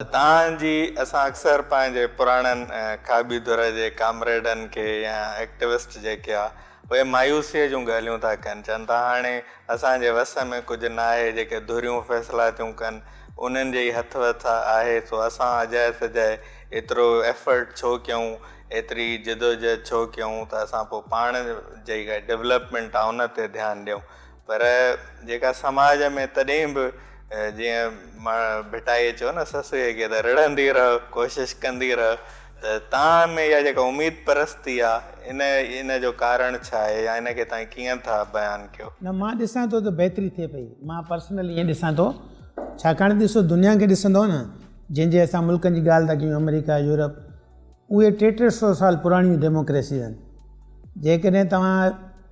تان جي اسان اڪثر پنهنجي پراڻن کاٻي ڌر جي ڪامريڊن کي يا ايڪٽوسٽ جيڪي آ اهي مايوسيء جون ڳالهيون ٿا ڪن چون ٿا هاڻي اسان جي وس ۾ ڪجهه ناهي جيڪي ڌريون فيصلا ٿيون ڪن انهن جي ئي هٿ وس آهي سو اسان اجائي سجائي ايترو ايفرٽ ڇو ڪيون ايتري جدوجهد ڇو ڪيون ته اسان پوء پاڻ جي ڊولپمينٽ آ ان تي ڌيان ڏيون پر جيڪا سماج ۾ تڏهن به جيئن ڀٽائيء چيو نه سسئيء کي ته رڙهندي رهه، ڪوشش ڪندي رهه ته توهان ۾ اها جيڪا اميد پرستي آ ان ان جو ڪارڻ ڇا آهي يا ان کي توهان ڪيئن ٿا بيان ڪيو؟ نه مان ڏسان ٿو ته بهتري ٿئي پئي، مان پرسنل ائين ڏسان ٿو ڇاڪاڻ ته ڏسو دنيا کي ڏسندؤ نه جنهن جي اسان ملڪن جي ڳالهه ٿا ڪيون آمريڪا، يورپ اهي ٽي ٽي سو سال پراڻيون ڊيموڪريسيز آهن جيڪڏهن توهان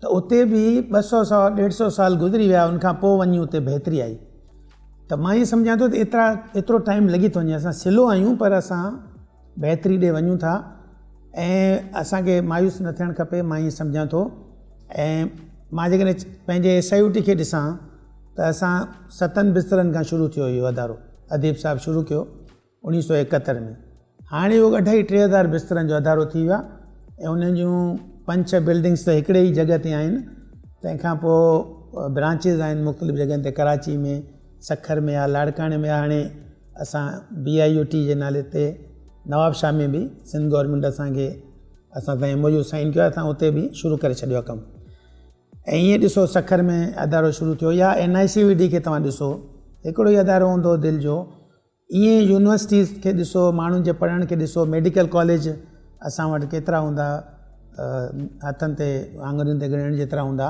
ته اتي به ٻه سؤ سوا ڏيڍ سؤ سال گذري ويا ان کان پوء وڃي اتي بهتري آئي ته مان ائين سمجهان ٿو ته ايترا ايترو ٽائيم لڳي ٿو وڃي اسان سلو آهيون پر اسان بهتري ڏي وڃون ٿا ۽ اسانکي مايوس نه ٿيڻ کپي مان ائين سمجهان ٿو ۽ مان جيڪڏهن پنهنجي ايس آئي او ٽي کي ڏسان ته اسان ستن بسترن کان شروع ٿيو اهو ادارو اديب صاحب شروع ڪيو اڻيهه سؤ ايڪهتر ۾ هاڻي اهو اڍائي ٽي هزار بسترن جو ادارو ٿي ويو آهي ۽ انهن جون پنج ڇهه بلڊنگس ته هڪڙي ئي جڳهه تي آهن تنهن کان پوء برانچز آهن مختلف جڳهن تي ڪراچي ۾ سکر ۾ آهي لاڙڪاڻي ۾ هاڻي اسان بي آء يو ٽي جي نالي تي نواب شاهه ۾ به سنڌ گورنمينٽ اسان کي اسان سان ايم او يو سائن ڪيو اسان اتي به شروع ڪري ڇڏيو آهي ڪم ۽ ائين ڏسو سکر ۾ ادارو شروع ٿيو يا N I C V D کي توهان ڏسو هڪڙو ئي ادارو هوندو دل جو ائين يونيورسٽيز کي ڏسو، ماڻهن جي پڙهڻ کي ڏسو، ميڊيڪل ڪاليج اسان وٽ ڪيترا هوندا، هٿن تي آڱرين تي ڳڻڻ جيترا هوندا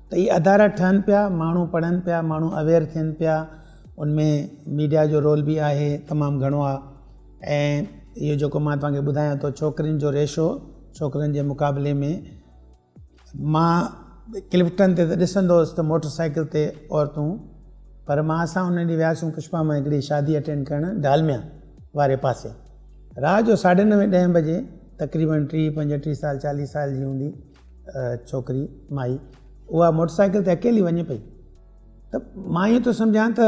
ته هي ادارا ٺهن پيا، ماڻهو پڙهن پيا، ماڻهو اويئر ٿين پيا، ان ۾ ميڊيا جو رول به آهي تمام گهڻو آ ۽ اهو جيڪو مان توهان کي ٻڌايان ٿو ڇوڪرين جو ريشو ڇوڪرن جي مقابلي ۾ مان ڪلفٽن تي ته ڏسندو هوس ته موٽر سائيڪل تي عورتون پر مان اسان ان ڏينهن وياسون پشپا مان هڪڙي شادي اٽينڊ ڪرڻ ڊالميا واري پاسي رات جو ساڍي نوي ڏهين بجي تقريبن ٽيهه پنجٽيهه سال چاليهه سال جي هوندي ڇوڪري مائي اها موٽر سائيڪل تي اڪيلي وڃي پئي ته مان ايئن ٿو سمجهان ته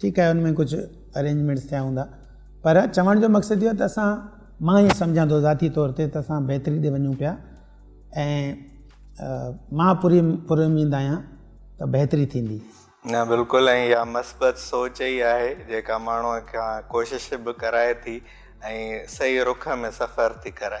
ٺيڪ آهي ان ۾ ڪجهه ارينجمينٽس ٿيا هوندا پر چوڻ جو مقصد اهو ته اسان مان ائين سمجهان ٿو ذاتي طور تي ته اسان بهتري ڏي وڃون پيا ۽ مان پوري پر اميد آهيان ته بهتري ٿيندي نه بلڪل ۽ يا مثبت سوچ ئي آهي جيڪا ماڻهو کان ڪوشش به ڪرائي ٿي ۽ صحيح رخ ۾ سفر ٿي ڪرائي